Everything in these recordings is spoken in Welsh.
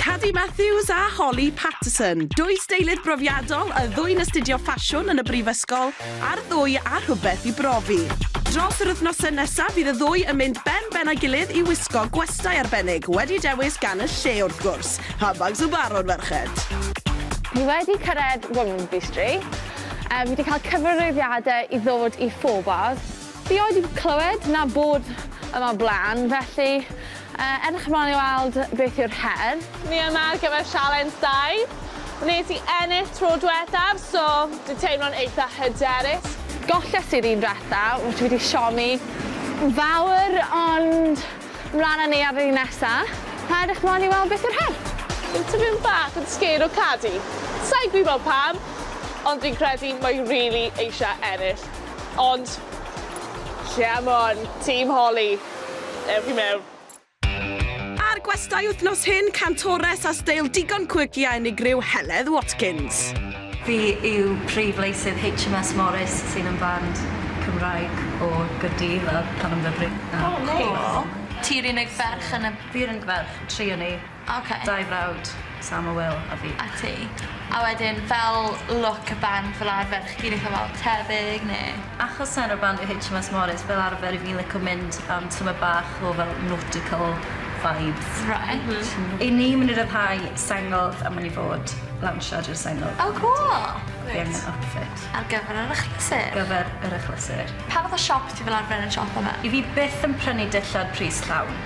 Cadi Matthews a Holly Patterson, dwy steilydd brofiadol, y ddwy'n astudio ffasiwn yn y brifysgol, a'r ddwy â rhywbeth i brofi. Dros yr wythnosau nesaf bydd y ddwy yn mynd ben ben â'i gilydd i wisgo gwestai arbennig, wedi dewis gan y lle wrth gwrs, handbags y barod ferched! Ni wedi cyrraedd Womanby Street, fi 'di cael cyfarwyddiadau i ddod i Four Bars, Fi oed 'di clywed na bod yma o blaen, felly edrych ymlaen i weld beth yw'r her. Ni yma ar gyfer sialens dau. Wnes i ennill tro dwethaf, so dwi'n teimlo'n eitha hyderus. Golles i'r un dwetha, felly fi 'di siomi fawr, ond mlaen â ni ar yr un nesa, a edrych ymlaen i weld beth yw'r her. Fi'n tipyn bach yn sgêr o Cadi. Sai'n gwybod pam, ond fi'n credu mae rili eisiau ennill. Ond, c'mon on, Team Holly, ewch i mewn. Ar gwestai wythnos hyn, cantores a steil digon quirky a unigryw, Heledd Watkins. Fi yw prif leisydd HMS Morris sydd yn band Cymraeg o Gaerdydd a Canonbwybryn. O neis. Ti'r unig ferch yn y... Fi'r unig ferch, tri o ni. Ok. Dau frawd, Sam a Wil, a fi. A ti. A wedyn fel look y band fel arfer chi'n itha fel tebyg ne'? Achos enw y band yw HMS Morris fel arfer 'yf fi'n lico mynd am tymed bach o fel nautical vibes. Reit. M-hm. 'Yn ni myn' i ryddhau sengls a myn' i fod lawnsio ar y sengls. O cŵl! Fi angen outfit. Ar gyfer yr achlysur. Gyfer yr achlysur. Pa fath o siop ti fel arfer yn siopa 'ma? 'Yf fi byth yn prynu dillad pris llawn.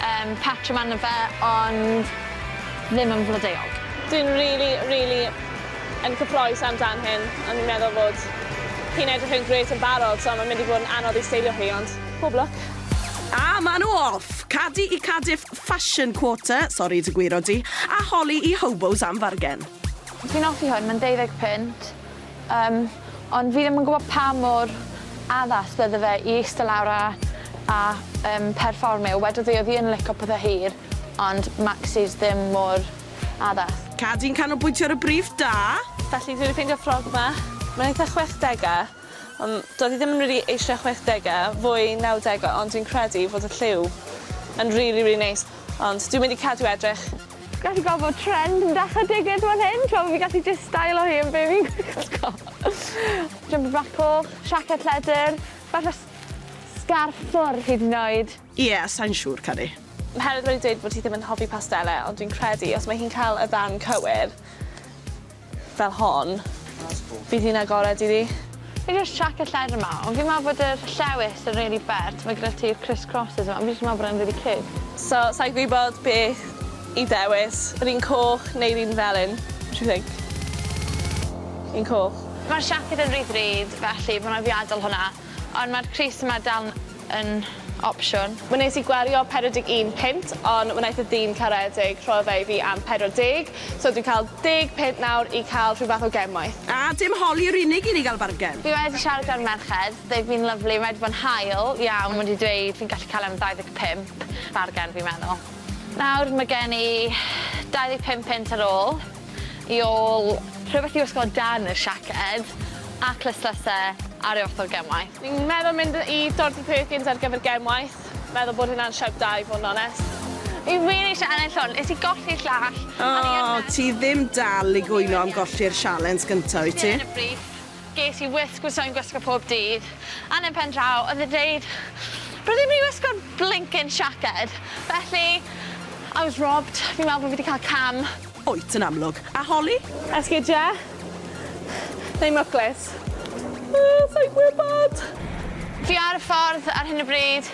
Yym patrwm arno fe ond ddim yn flodeuog. Dwi'n rili rili yn cyffroes am dan hyn ond fi'n meddwl fod hi'n edrych yn grêt yn barod so mae'n mynd i fod yn anodd i steilio hi ond pob lwc. A ma' nhw off! Cadi i Cardiff Fashion Quarter, sori dy gwiro di, a holi i Hobos am fargen. Fi'n offi hwn, mae'n deuddeg punt. Yym, ond fi ddim yn gwbo pa mor addas bydde fe i eiste lawr a a yym perfformio, wedodd hi o'dd hi yn lico pethe hir, ond maxis ddim mor addas. Cad i'n canolbwyntio ar y briff da! Felly dwi wedi ffeindio ffrog 'ma. Mae'n eitha chwechdege, ond doedd hi ddim yn rili eisiau chwechdege, fwy nawdege, ond dwi'n credu fod y lliw yn rili rili neis, ond dwi'n mynd i cadw edrych. Gallu gweld bod trend yn dechre digyd fan hyn, t'mo' fi'n gallu jyst stylo hi yn be' fi'n gwisgo. Jumper bach coch, siaced lledr, falle s- sgarff ffwr hyd yn oed. Ie, sai'n siŵr, caru. Oherwydd wedi dweud bod ti ddim yn hoffi pastelle, ond dwi'n credu os mae hi'n cael y ddarn cywir, fel hon, bydd hi'n agored iddi. Fi jyst chuck y lledr yma, ond fi'n meddwl bod yr llewys yn rili bert, ma' gyda ti'r criss crosses yma, fi jyst yn meddwl bod e'n rili ciwt. So, sa i'n gwybod beth i dewis, yr un coch neu'r un felyn? What do you think? Un coch. Mae'r siaced yn rhy ddrud, felly fi'n meddwl i fi adael hwnna. Ond mae'r crys yma dal yn opsiwn. Wnes i gwario 41 punt ond wnaeth y dyn caredig rhoi fe i fi am 40, so dwi'n cael deg punt nawr i cael rhyw fath o gemwaith. A dim holi yw'r unig un i gael bargen. Fi wedi siarad gyda'r merched, they've been lovely, mae wedi bod yn hael iawn, wedi dweud fi'n gallu cael e am 25, bargen fi'n meddwl. Nawr mae gen i 25 punt ar ôl. i ôl rhywbeth i'w osgoi dan y siaced a clustlyse ar ei ochr gemau. Fi'n meddwl mynd i Dorothy Perkins ar gyfer gemwaith, meddwl bod hwnna'n siawt da i fod yn onest. Fi wir eisiau ennill hwn, nes i golli'r llall. O, ti ddim dal i gwyno am golli'r sialens gynta, wyt ti? Dilyn y briff, ges i wisg fyswn i'n gwisgo pob dydd, a yn y pen draw oedd e'n deud bod ddim i wisgo'r blincin siaced, felly I was robbed, fi'n meddwl bod fi 'di cael cam. Wyt yn amlwg. A Holly? Esgidia? Neu mwclis? Yy, sai'n gwybod! Fi ar y ffordd ar hyn o bryd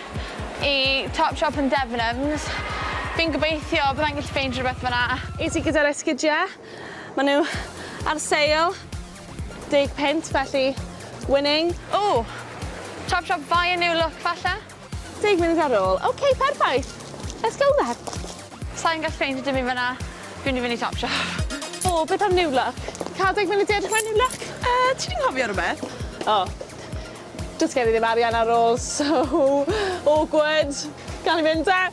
i Topshop yn Debenhams. Fi'n gobeithio byddai'n gallu ffeindio rhywbeth fan'na. Iti ti gyda'r esgidiau? Mae nhw ar sale, deg punt, felly winning. Ww! Topshop Buy a New Look falle? Deg munud ar ôl. Ok, perffaith! Let's go then! Sai'n gallu ffeindio dim un fan 'na. Fi'n mynd i fynd i Topshop. O, beth am New Look? Ca'l deg munud i edrych mewn New Look? Yy, ti 'di nghofio rwbeth? O. Does gen i ddim arian ar ôl, so awkward! Gawn ni mynd 'da?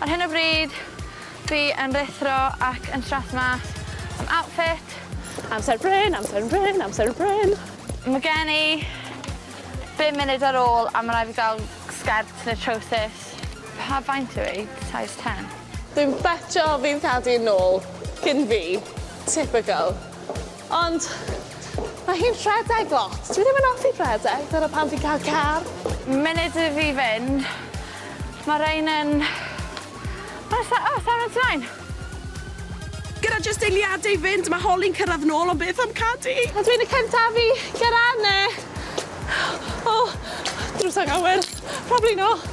Ar hyn o bryd, fi yn ruthro ac yn strathmas am outfit. Amser bryn, amser bryn, amser bryn. Ma' gen i Bum munud ar ôl a ma' rai' fi ga'l sgert ne' trowsus. Pa faint yw 'i? Size ten? Dwi'n betsio fydd Daddy yn ôl cyn fi. Typical. Ond ma' hi'n rhedeg lot. Dwi ddim yn offi rhedeg, dyna pam fi'n ca'l car. Munud i fi fynd. Ma' rein yn... O sa- o sai'n mynd ti moyn? Gyda jyst eiliade i fynd, mae Holly'n cyrraedd nôl, ond beth am Cadi? A dwi'n y cyntaf i gyrraedd 'na! O! Drws ag awyr! Probably not!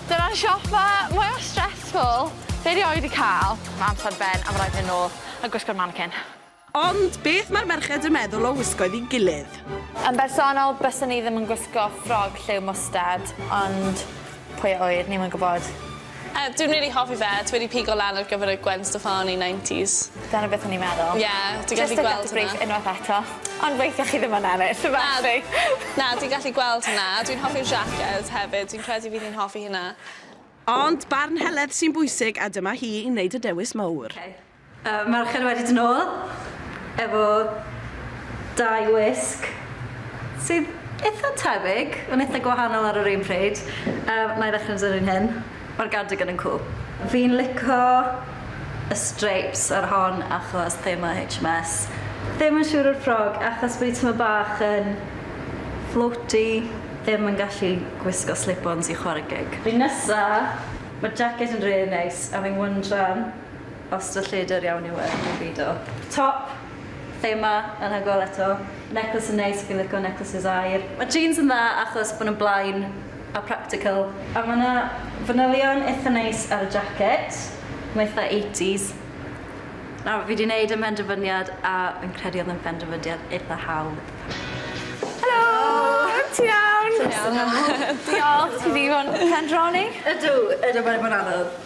Dyna'r siopa mwya stressful fi erioed 'di cael. Mae amser ar ben a ma' raid fi fynd nôl a gwisgo'r manikin. Ond beth mae'r merched yn meddwl o wisgoedd i gilydd? Yn bersonol, byswn i ddim yn gwisgo ffrog lliw mwstard, ond pwy a ŵyr, ni'm yn gwybod. Yy, dwi'n rili hoffi fe, dwi wedi pigo lan ar gyfer y Gwen Steffani nineties. Dyna beth o'n i'n meddwl. Ie, dwi'n gallu gweld hwnna. Jyst to cut the brief unwaith eto, ond weithia chi ddim yn ennill, so Na, na, dwi'n gallu gweld hwnna. Dwi'n hoffi'r jacket hefyd, dwi'n credu fydd hi'n hoffi hynna. Ond barn Heledd sy'n bwysig, a dyma hi i wneud y dewis mowr. Yy Mercher wedi dod nôl efo dau wisg sydd itha tebyg ond itha gwahanol ar yr un pryd. Yy nai ddechre dw'r un hyn. Ma'r gardigan yn cwl. Fi'n lico y streips ar hon achos thema HMS. Ddim yn siŵr o'r ffrog achos bod 'i tymed bach yn floaty, ddim yn gallu gwisgo slip-ons i chware gig. Nesa, ma'r jaced yn rili neis a fi'n wyndran Os dy lledr iawn yw e, dwi'n beido. Top, thema, anhygoel eto. Necklace yn neis, fi'n lico necklaces aur. Mae jeans yn dda achos bod nhw'n blaen a practical. A mae 'na fanylion eitha neis ar y jacket. Mae eitha eighties. Nawr, fi 'di 'neud y mhenderfyniad a fi'n credu oedd e'n benderfydiad eitha hawdd. Helo! Helo! Ti'n iawn? Ti'n iawn? Diolch, ti 'di bod yn pendroni? Ydw, ydw, mae 'di bod yn anodd.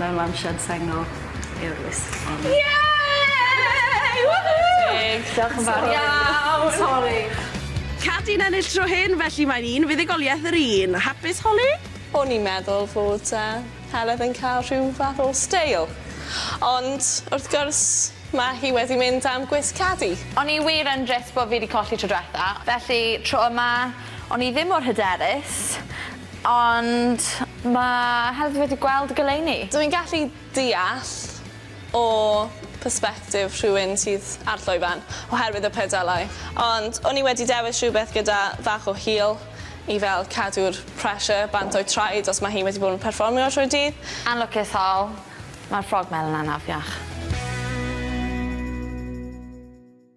Mewn lawnsiad sengl yw'r wisg hon. Yay! Woohoo! Teg, diolch yn fawr iawn! Sori! Cat i'n ennill tro hyn, felly mae'n un fuddugoliaeth yr un. Hapus, Holly? O'n i'n meddwl fod yy Heledd yn cael rhyw fath o steil, ond wrth gwrs ma' hi wedi mynd am gwisg Cadi. O'n i wir yn drist bo fi 'di colli tro dwetha, felly tro yma o'n i ddim mor hyderus. Ond mae hefyd wedi gweld y goleuni. Dw i'n gallu deall o persbectif rhywun sydd ar llwyfan oherwydd y pedalau, ond o'n i wedi dewis rhywbeth gyda bach o heel i fel cadw'r pressure bant o'i traed os mae hi wedi bod yn perfformio trwy'r dydd. Yn lwcus Hal, mae'r ffrog melyn 'na'n afiach.